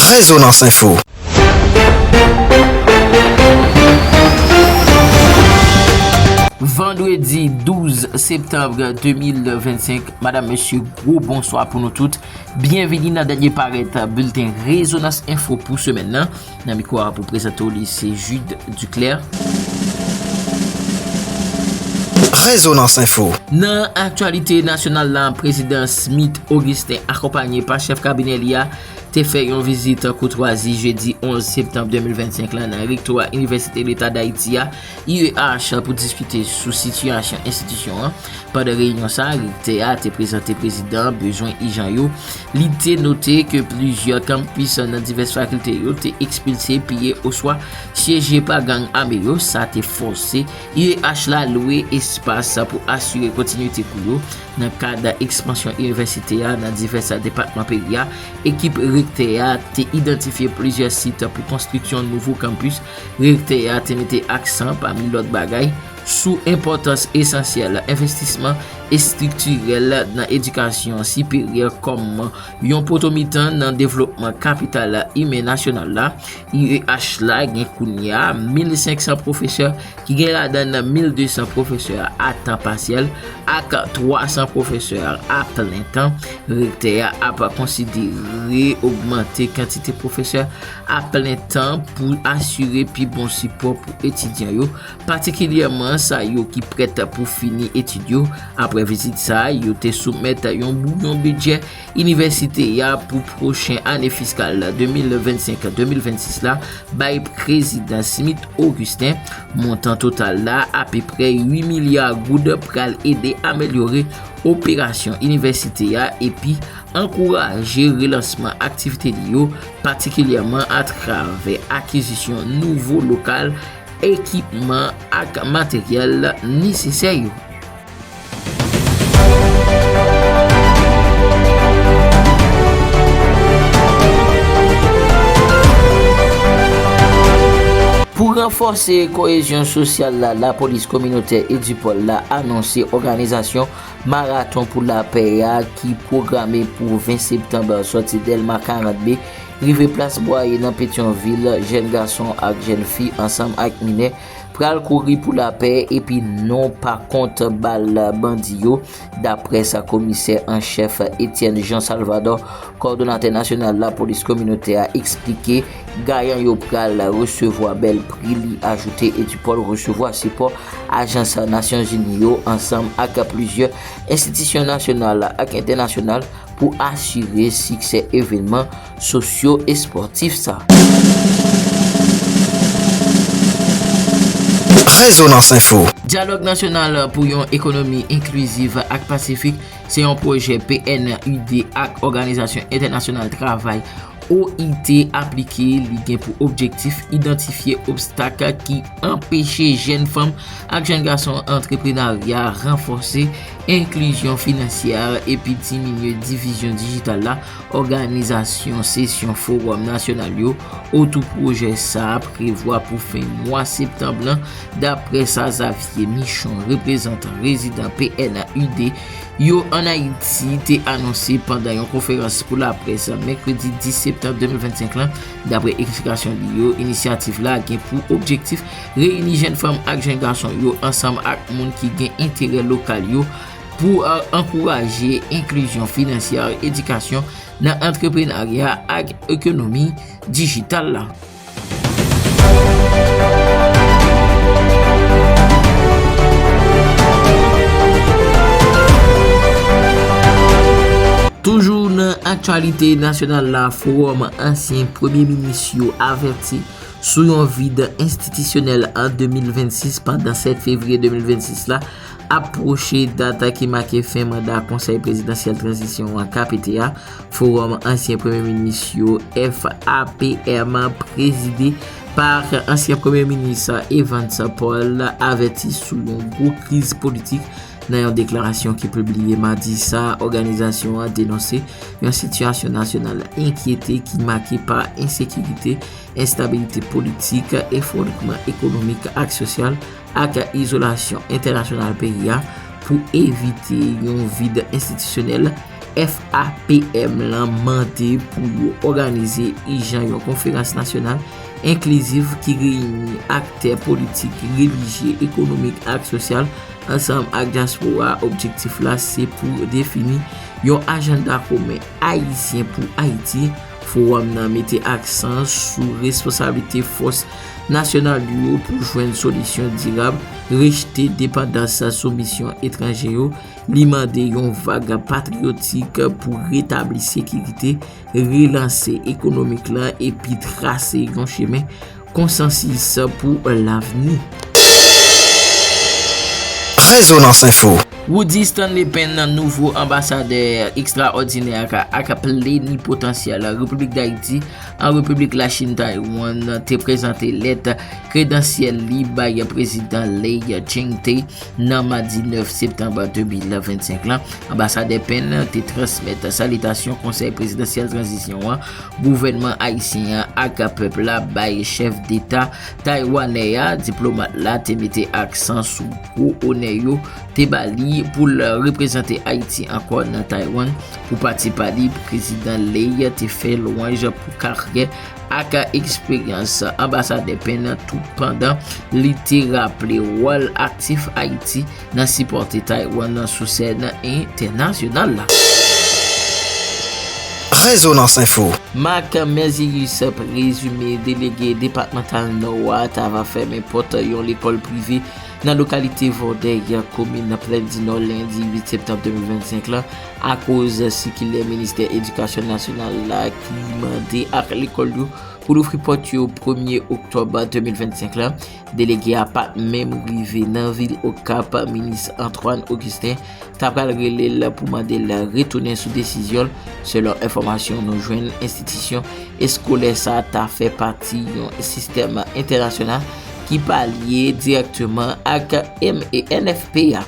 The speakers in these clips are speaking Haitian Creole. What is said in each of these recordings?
Rezonans Info. Vandredi 12 septanbre 2025 Madame, Mesye, gwo bonswa pou nou tout. Byenvini nan dènye parèt bilten Rezonans Info pou semèn nan. Nan mikwo a pou prezante w li se Jude Duclaire. Rezonans Info. Nan aktyalite nasyonal la, Prezidan Smith Augustin akonpanye pa chèf kabinè li a te fè yon vizit koutwazi jedi 11 septanm 2025 la nan Rektora Inivèsite Leta Dayiti a UEH pou diskite sou sitiyasyon enstitisyon an. Pandan reyinyon sa, rektè a te prezante prezidan bezwen ijan yo. Li te note ke plizyè kanpis nan divès fakilte yo te ekspilse, piye oswa syeje pa gang ame yo. Sa te fòse UEH la lwe espas pou asire kontinite kou yo. Nan kad ekspansyon inivèsite a nan divès depatman peyi a, ekip rektè a te idantifye plizyè sit pou konstriksyon nouvo kanpis Rektè a te mete aksan, pami lòt bagay, sou enpòtans esansyèl envestisman estriktirèl nan edikasyon siperyè kòm yon poto mitan nan devlopman kapital imen nasyonal la. UEH la gen kounye a 1,500 pwofesè, ki gen ladan n 1,200 pwofesè a tan pasyèl ak 300 pwofesè a plen tan. Rektè a ap konsidere ogmante kantite pwofesè a plen tan pou asire pi bon sipò pou etidyan yo, patikilyèman sa yo ki prèt pou fini etid yo. Aprè vizit sa a, yo te soumèt yon bouyon bidjè inivèsite a pou pwochen ane fiskal 2025-2026 la bay Prezidan Smith Augustin. Montan total la, apeprè 8 milya goud, pral ede amelyore operasyon inivèsite a epi ankouraje relansman aktivite li yo, patikilyèman atravè akizisyon nouvo lokal, ekipman ak materyèl nesesè yo. Pou ranfòse koyezyon sosyal la, lapolis kominotè Edipòl la anonse òganizasyon. Maraton pou lapè a ki pwograme pou 20 septanb sòti Dèlma 40 B rive plas Bwaye nan Petyonvil, jèn gason ak jèn fi ansanm ak minè pral kouri pou lapè epi non pa kont bal bandi yo, daprè sa komisè an chèf Etienne Jean Salvador, kòdonatè nasyonal lapolis kominotè a eksplike. Gayan yo pral resevwa bèl pri li ajoute Edupol resevwa sipò ajans Nasyonzini yo ansanm ak plizyè enstitisyon nasyonal ak entènasyonal pou asire siksè evenman sosyo espòtif sa. Rezonans Enfo. Dyalòg nasyonal pou yon ekonomi enkliziv ak pasifik se yon pwojè PNUD ak Òganizasyon Entènasyonal Travay OIT aplike li gen pou objektif idantifye obstak ki anpeche jèn fanm ak jèn gason antreprenarya, ranfòse enklizyon finansyè epi diminye divizyon dijital la. Òganizasyon sesyon fowòm nasyonal yo otou pwojè sa a prevwa pou fen mwa septanb lan, daprè sa Xavier Michon, reprezantan rezidan PNUD yo an Ayiti te anonse pandan yon konferans pou laprès mèkredi 10 septanm 2025 la. Dapre eksplikasyon li yo, inisyativ la gen pou objektif reyini jenn fanm ak jenn gason yo ansanm ak moun ki gen enterè lokal yo pou ankouraje enklizyon finansyè, edikasyon nan antreprenarya ak ekonomi dijital la. Toujou nan aktyalite nasyonal la, fowòm ansyen premye minis yo avèti sou yon vid enstitisyonèl an 2026 pandan 7 fevriye 2026 la Ap pwoche dat ki make fen manda Konsèy Prezidansyèl Tranzisyon an, KPT, a, Fowòm Ansyen Premye Minis yo, FAPM, prezide pa ansyen Premye Minis Evans Paul avèti sou yon gwo kriz politik nan yon deklarasyon ki pibliye madi sa a òganizasyon an denonse yon sitiyasyon nasyonal enkyete ki make pa ensekirite, enstabilite politik, efwondman ekonomik ak sosyal. ak izolasyon entènasyonal peyi a pou evite yon vid enstitisyonèl, FAPM lan mande pou yo òganize ijan yon konferans nasyonal enklizif ki reyini aktè politik, relijye, ekonomik ak sosyal ansanm ak dyaspora a objektif la se pou defini yon ajanda komen ayisyen pou Ayiti. Fowòm nan mete aksan sou responsablite fòs nasyonal yo pou jwenn solisyon dirab, rejte depandans sou misyon etranje yo, li mande yon vag patriyotik pou retabli sekirite, relanse ekonomik la epi trase yon chemen Konsansis pou lavni. Rezonans Info. Roody Stanley Penn nouvo anbasadè ekstraòdinè ak plenipotansyèl Repiblik Dayiti an Repiblik Lachin Taiwan te prezante lèt kredansyèl li bay Prezidan Lai Ching-te nan madi 9 septanm 2025 la. Anbasadè Penn te transmèt salitasyon Konsèy Prezidansyèl Tranzisyon an Gouvènman ayisyen an ak pèp la bay chèf deta taywanè a, diplomat la te mete aksan sou gwo onè yo te ba li pou l reprezante Ayiti ankò nan Taywann. Pou pati pa li, Prezidan Lay te fè lwanj pou karyè ak eksperyans Anbasadè Penn toutpandan li te raple wòl aktif Ayiti nan sipòte Taiwan nan sou sèn entènasyonal la. Rezonans Info. Marc Merzius prezime delege depatmantal Nò a ta va fèmen pòt yon lekòl prive nan lokalite Vòdèy, komin Plèndinò lendi 8 septanm 2025 la akoz sikilè ministè edikasyon nasyonal la ki mande ak lekòl yo pou louvri pòt yo premye oktòb 2025 la. Delege a pat menm rive nan vil Okap, minis Antoine Augustin ta pral rele l pou mande l retounen sou desizyon l, selon enfòmasyon nou jwenn enstitisyon eskolè sa ta fè pati yon sistèm entènasyonal ki pa lye dirèkteman ak MENFP a.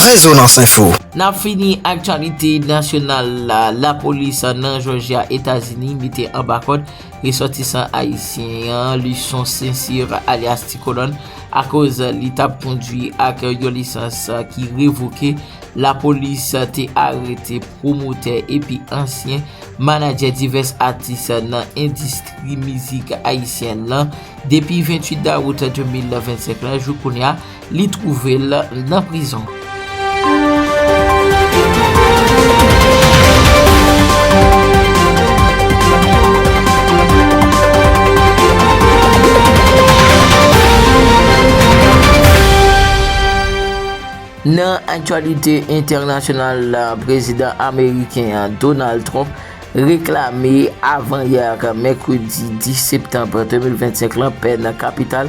Rezonans Enfo. N ap fini aktyalite nasyonal la, Lapolis nan Jòjya, Etazini mete anba kòd. Resòtisan ayisyen an, Luçon St-Cyr alyas Ti Kolòn, akoz li tap kondwi ak yon lisans ki revoke, lapolis te arete pwomotè epi ansyen manadjè divès atis nan endistri mizik ayisyèn lan. Depi 28 dawout 2025 lan, jouk kounya, Li twouve l nan prizon. Nan aktyalite entènasyonal la, Prezidan ameriken an, Donald Trump, reklame avan yè mèkredi 10 septanm 2025 lan pè nan kapital.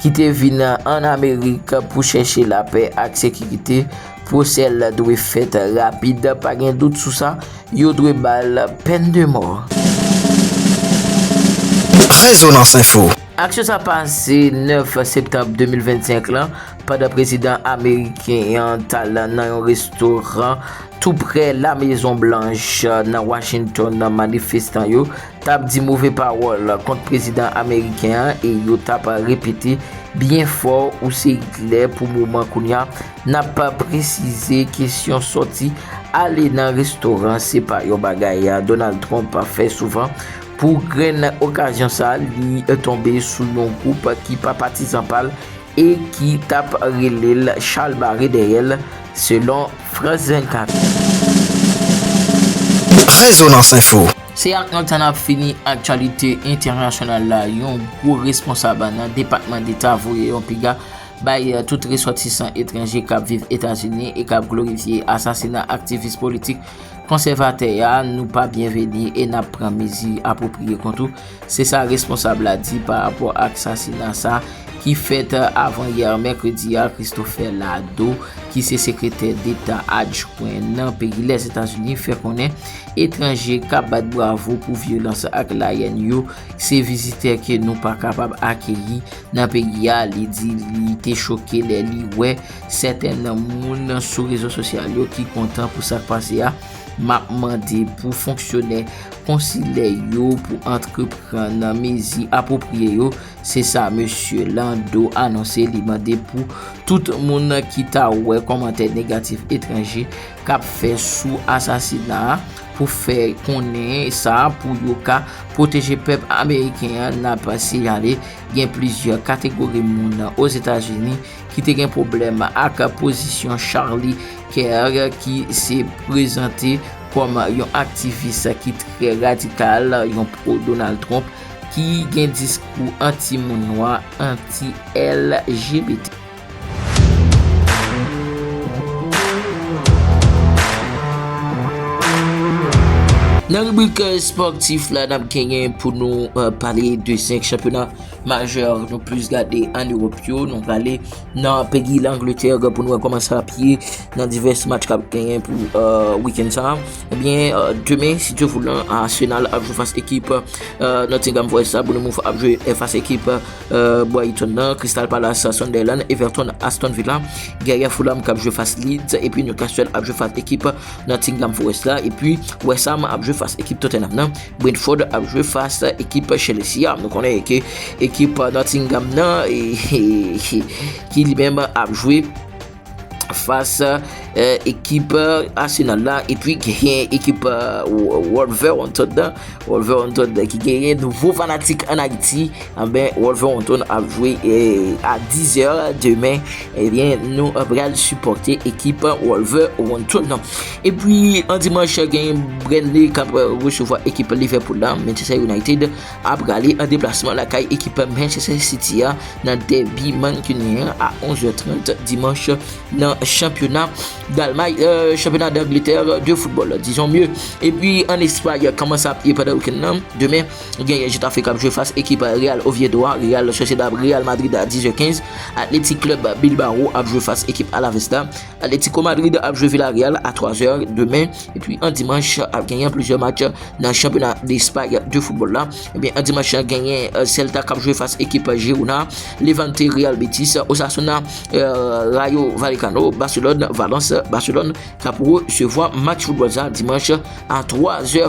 ki te vin ann Amerik pou chèche lapè ak sekirite, pwosè l dwe fèt rapid, pa gen dout sou sa, yo dwe ba l pèn de mò. Rezonans Info. Aksyon sa pase 9 septanm 2025 lan, pandan prezidan ameriken an t al nan yon restoran toupre La Mezon Blanch nan Washington, manifestan yo, t ap di move pawòl kont prezidan ameriken an e yo t ap repete byen fò ou se Itlè pou moman kounye a, n ap presize kesyon sòti ale nan restoran se pa yon bagay Donald Trump fè souvan. Pou grenn okazyon sa a, li tonbe sou yon gwoup ki pa patizan pa l, e ki t ap rele l chalbare dèyè l, selon France 24. Rezonans Info. Se ak nòt sa n ap fini aktyalite entènasyonal la, yon gwo responsab nan Depatman Deta voye yon piga bay tout resòtisan etranje k ap viv Etazini e k ap glorifye asasina aktivis politik konsèvatè a, nou pa byenveni e n ap pran mezi apwopriye kont ou. Se sa responsab la di pa rapò ak sasina sa ki fèt avan yè mèkredi a Christopher Lado ki se sekretè deta adjwen nan peyi Lèzetazini fè konnen etranje k ap bat bravo pou vyolans ak layèn yo se vizitè ke nou pa kapab akeyi nan peyi a li di li te choke lè li wè sèten moun sou rezo sosyal yo ki kontan pou sa k pase a M ap mande pou fonksyonè konsilè yo pou antrepran nan mezi apwopriye yo, se sa Mesye Landau anonse li mande pou tout moun ki ta wè kòmantè negatif etranje k ap fè sou asasina a pou fè konnen sa pou yo ka pwoteje pèp ameriken an n ap siyale gen plizyè kategori moun Ozetazini ki te gen pwoblèm ak pozisyon Charlie Kerr ki se prezante kòm yon aktivis ki trè radikal, yon pro-Donald Trump, ki gen diskou anti-moun nwa, anti-LGBT. Nan ribrik espòtif la, n ap genyen pou nou pale de 5 chanpyona. Majè nou plis gade an Ewop yo, nou prale nan peyi Langletè pou nou wè kòman sa ap ye nan divès match k ap genyen pou wikenn sa. Ebyen, demen, si Dye voulan, Arsenal ap jwe fas ekip Nottingham Forest la, Bournemouth ap jwe fas ekip Brighton nan, Crystal Palace ak Sunderland, Everton ak Aston Villa, Guerrier Fulham k ap jwe fas Leeds, epi Newcastle ap jwe fas ekip Nottingham Forest la, epi West Ham ap jwe fas ekip Tottenham nan. Brentford ap jwe fas ekip Chelsea a. Nou konnen ke ekip Nottingham nan ki li menm ap jwe fas ekip Arsenal la. E pi ki gen ekip Wolverhampton nan. Wolverhampton nan ki gen yon nouvo fanatik an Haiti. An ben Wolverhampton ap jwe a 10 er demen. E eh bien nou ap pral suporte ekip Wolverhampton nan. Epi an dimanch gen Burnley k ap resevwa ekip Liverpool la, Manchester United a prale an deplasman lakay ekip Manchester City a nan dèbi mankinyen an a 11 zè 30 dimanch nan chanpyona Dalmay chanpyona Dangletè de foutbòl dizon mye. Epi an Espay kòman sa ap ye pandan wikenn nan, demen gen Getafe k ap jwe fas ekip Real Oviedo a, Real Sociedad ap Real Madrid a 10 zè 15, Athletic Club Bilbao ap jwe fas ekip Alaves la. Atletico Madrid ap jwe Villarreal a 3 zè demen, epi an dimanch ap genyen plizyè match nan chanpyona Despay de foutbòl la. Ebyen an dimanch lan genyen Celta kap jwe fas ekip Girona, Levante, Real Betis, Osasuna, Rayo Vallecano, Barcelone, Valence, Barcelone kap resevwa match foutbòl sa dimanch a 3 zè.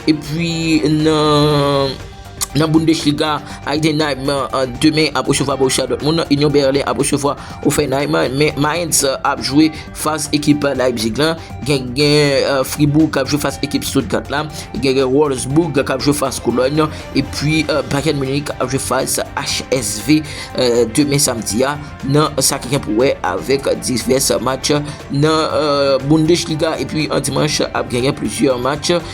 Epi nan. Nan Bundesliga, Heidenheim demen ap resevwa Borussia Dortmund, Union Berlin ap resevwa Hoffenheim, men Mainz ap jwe fas ekip Leipzig la, gen Fribourg kap jwe fas ekip Stuttgart la, gen Wolfsburg kap jwe fas Cologne, epi Bayern Munich ap jwe fas HSV demen samdi a nan sa ki gen pou wè avèk divès match nan Bundesliga, epi an dimanch ap genyen plizyè match.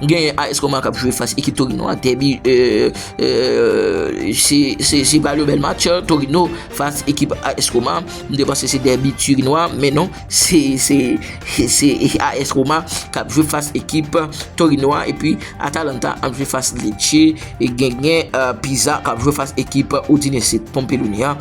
Genyen AS Roma kap jwe fas ekip Torino a, dèbi se pa yon bèl match Torino fas ekip AS Roma, m te panse se dèbi Torino a, men non se AS Roma kap jwe fas ekip Torino a, epi Atalanta ap jwe fas Lecce, genyen Pisa kap jwe fas ekip Udinese Pompeluni a,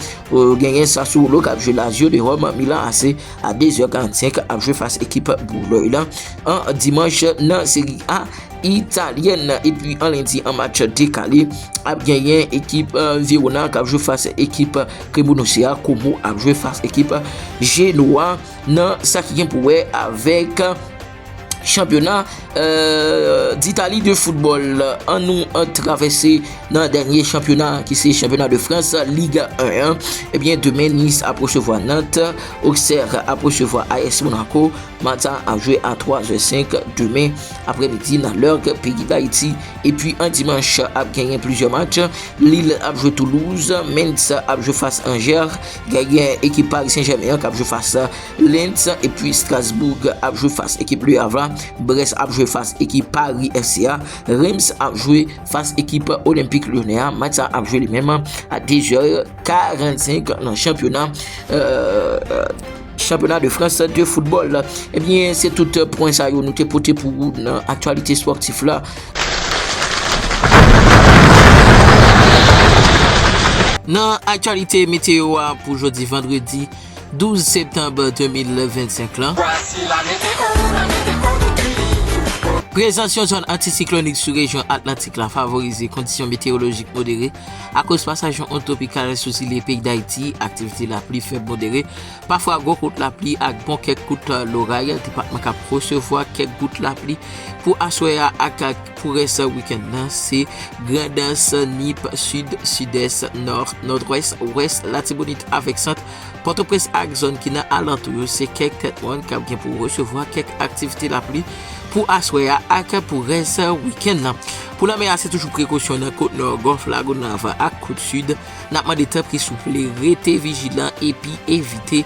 genyen Sassuolo kap jwe Lazio de Rome, Milan AC. a 2 zè 45 ap jwe fas ekip Bouloy la an dimanch nan seri a italyèn nan epi an lendi an match dekale ap genyen ekip Verona kap jwe fas ekip Kremounouse a Komo ap jwe fas ekip Genoa nan sa ki gen pou wè avèk Chanpyona d'Italie de football, an nou travèse nan dènye chanpyona ki se chanpyona de France Liga 1 an, ebyen demen Nice ap resevwa Nantes, Auxerre ap resevwa AS Monaco, match sa ap jwe a 3 zè 5 demen aprè midi nan lè peyi d'Haiti, epi an dimanch ap genyen plizyè match, Lille ap jwe Toulouse, Mainz ap jwe fas Angers, genyen ekip Paris Saint Germain an kap jwe fas. Lens epi Strasbourg ap jwe fas ekip Le Havre, Brest ap jwe fas ekip Paris FC a, Reims ap jwe fas ekip Olympique Lyonnais a, match sa ap jwe li menm a 2 zè 45 nan chanpyona Chanpyona de Frans de foutbòl. Ebyen se tout pwen sa yo nou te pote pou ou nan aktyalite espòtif la. Nan aktyalite meteyo a pou jodi vandredi. 12 septanb 2025 lan, prezans yon zòn antisiklonik sou rejyon Atlantik la favorize kondisyon meteyolojik modere akoz pasaj yon ond twopikal sou zile peyi Dayiti, aktivite lapli fèb modere, pafwa gwo kout lapli ak bon kèk kout loray, depatman k ap resevwa kèk gout lapli pou aswè a ak. Pou rès wikenn nan, se Grandans, Nip, Sid, Sidès, Nò, Nòdwès, Wès, Latibonit avèk Sant, Pòtoprens ak zòn ki nan alantou yo se kèk tèt mòn kap gen pou resevwa kèk aktivite lapli pou aswè a ak pou rès wikenn nan. Pou lanmè a se toujou prekosyon nan kot Nò, Gòlf Lagonav ak kot Sid. Nap mande tanpri souple rete vijilan epi evite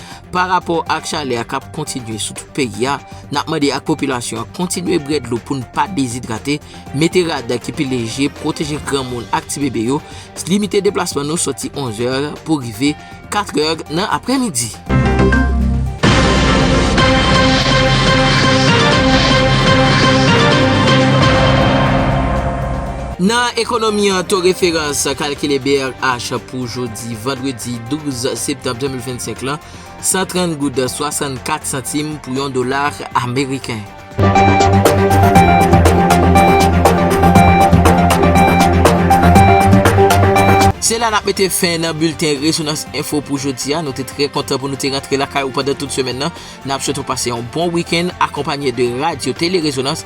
Pa rapò ak chalè a k ap kontinye sou tout peyi a, n ap mande ak popilasyon an kontinye bwè dlo pou n pa dezidrate, mete rad ki pi leje, pwoteje granmoun ak tibebe yo, limite deplasman nou sòti 11 zè pou rive 4 zè nan aprèmidi. Nan ekonomi an, to referans kalkile brh pou jodi. Di vandredi 12 septanm 2025 lan, 130 goud 64 santim pou yon dola ameriken. Se la n ap mete fen nan bilten Rezonans Enfo pou jodi a. Nou te trè kontan pou nou te rantre lakay ou pandan tout semèn nan. N ap swete w pase yon bon wikenn akonpanye de Radyo Tele Rezonans.